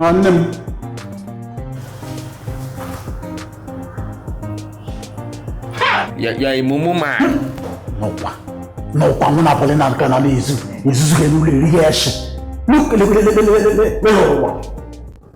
nwanne m ya ya emumu ma nụkwa nụkwa mụ na pọlị na nka na na-ezu ezuzu ga-eme ụlọ eri ya eshi n'ụwa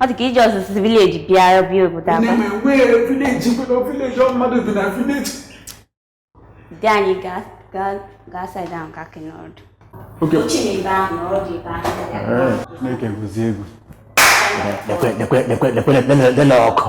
ọ dị ka iji ọzụzụ village bịa bịa obodo aba dị anyị gaa side ahụ ka akị n'ọdụ Chineke gụzie egwu ọkụ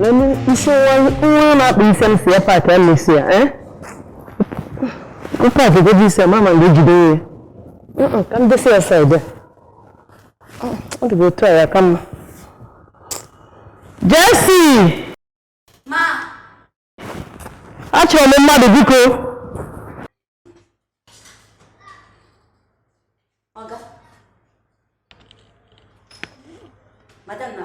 Nani isi nwa na-akpa isi m sị ya pack ya mesi ya eh? pack gị bụ isi ya mama mgbe ejide ya ka m desi ya side ọ dịbụ otu a ya ka mma Jesse! achọrọ m mmadụ biko Madam na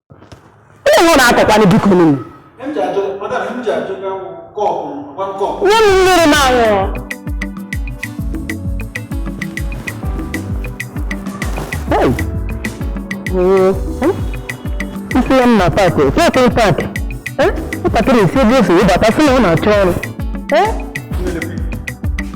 Ihe na akọkwanụ bikonụ. Nye m mmiri m aṅụọ. Isi ya mma pack, otu ọkụ pack. Nwatakịrị isi ebe o si wụbata sị na ọ na-achọ ọrụ.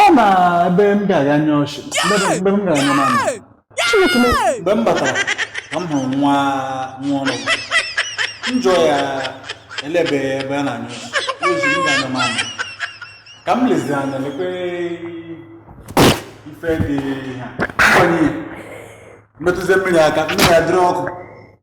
ọ na ebe m ga-aga nye ọchị ebe m ga-aga na Chineke mgbe m batara ka m hụrụ nwa nwa ọrụ m jụọ ya elebe ebe a na-anyụ ozi m ga-anya m anya ka m lezi anya lekwe ife dị ka m metụzie mmiri aka mmiri adịrị ọkụ